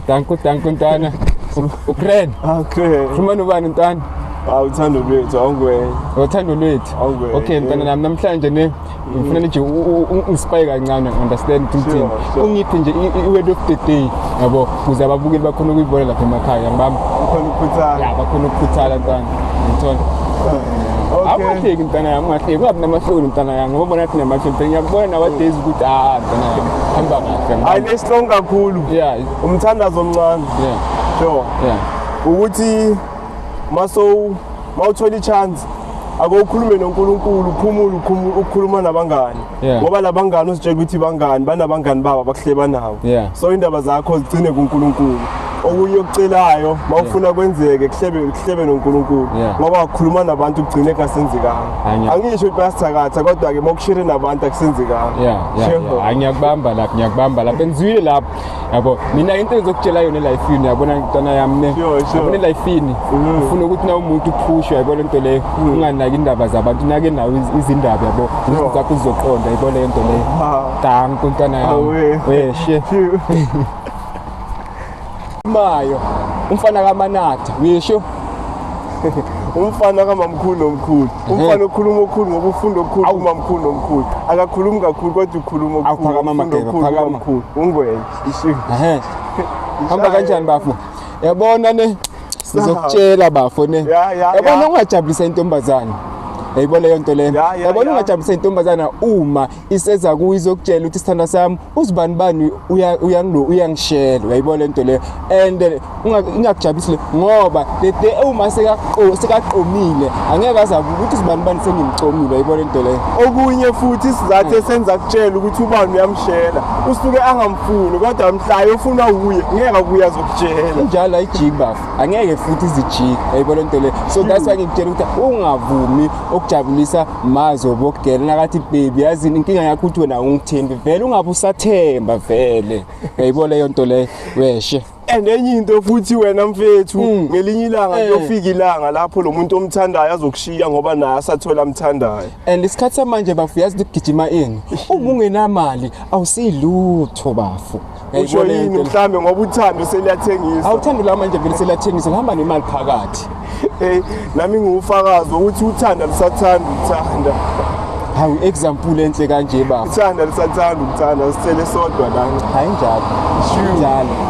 Danko, danko ntwana. Ukren. Ah, okay. Fumana ubani ntwana? Awuthando lwethu awungwenya. Uthando lwethu. Awungwenya. Okay ntwana nami namhlanje ne ngifuna nje ungispike kancane understand ukuthi ngithini ungiphi nje i-word of the day yabo kuze ababukeli bakhona ukuyibona lapha emakhaya ngibami bakhona ukukhuthala ya bakhona ukukhuthala ntwana ngithola awungahleki mntana yami ungahleki ungabi namahloni mntana yami ngoba bona thina mahloni phela ngiyakubona nowadays ukuthi ah mntana yami hamba kahle hayi lesilong kakhulu yeah umthandazo omncane yeah sure yeah ukuthi maso mawuthola ichance ake ukhulume noNkulunkulu uphumule ukhumule ukukhuluma nabangani Yeah. ngoba labangani usitshela ukuthi bangani banabangani babo abakuhle banawo Yeah. so indaba zakho zigcine kuNkulunkulu okunye okucelayo mawufuna kwenzeke kuhlebe kuhlebe noNkulunkulu Yeah. ngoba wakhuluma nabantu kugcine kungasenzekanga Hayi, ngiya- angisho ukuthi bayasithakatha kodwa ke mawukushere nabantu akusenzekanga yeah, yeah, Sure. yeah. Hayi, ngiyakubamba lapho ngiyakubamba lapho engizwile lapho yabo mina into engizokutshela yona elifini yabona ntwana yami ne yabona elifini mm. ufuna ukuthi na umuntu uphushwe yabo lento leyo mm. unganaki indaba zabantu nake nawo izindaba yabo izinto zakho uzoqonda yabo lento leyo danko ntwana yami weshe mayo umfana kamanatha uyesho umfana kamamkhulu nomkhulu umfana okhuluma okukhulu ngoba ufunda okukhulu Awu. uma mkhulu nomkhulu akakhulumi kakhulu kodwa ukhuluma Awu, okukhulu phakama, ufunda Mageba, okukhulu, phakama. umamkhulu. ungwenya Ehe. hamba kanjani bafo yabona ne sizokutshela bafo ne Ya, ya, yabona ya. ungajabulisa intombazane yayibona leyo nto leyo Ya, ya, yabona ya. ungajabulisa intombazana uma iseza kuyo izokutshela ukuthi sithanda sami uzibanibani uyangilo uyangishela uyayibona lento leyo and eh, ingakujabulisi le ngoba the day uma sekaqomile angeke azabe ukuthi uzibanibani sengimcomile uyayibona lento leyo okunye futhi isizathu mm. esenza kutshela ukuthi ubani uyamshela usuke angamfuni kodwa mhlayo ufunwa wuye ngeke akuye azokutshela njalo ayijiki bafo angeke futhi izijiki uyayibona lento leyo so that's why ngikutshela ukuthi ungavumi okujabulisa mazobo kugela nakathi baby yazi inkinga yakho ukuthi wena ungithembi vele ungabe usathemba vele yayibo leyo nto leyo weshe and enye into futhi wena mfethu Mm. ngelinye ilanga Eh. kuyofika ilanga lapho lo muntu omthandayo azokushiya ngoba naye asathola amthandayo and isikhathi samanje bafu yazi ukuthi kugijima ini uma ungenamali awusiyilutho bafu usho yini mhlambe ngoba uthando seliyathengisa awuthando la manje vele seliyathengisa ngihamba nemali phakathi hey nami ngiwufakazi ukuthi uthanda lusathanda uthanda hawu example enhle kanje baba uthanda lusathanda uthanda sicele sodwa lana hayi njalo njalo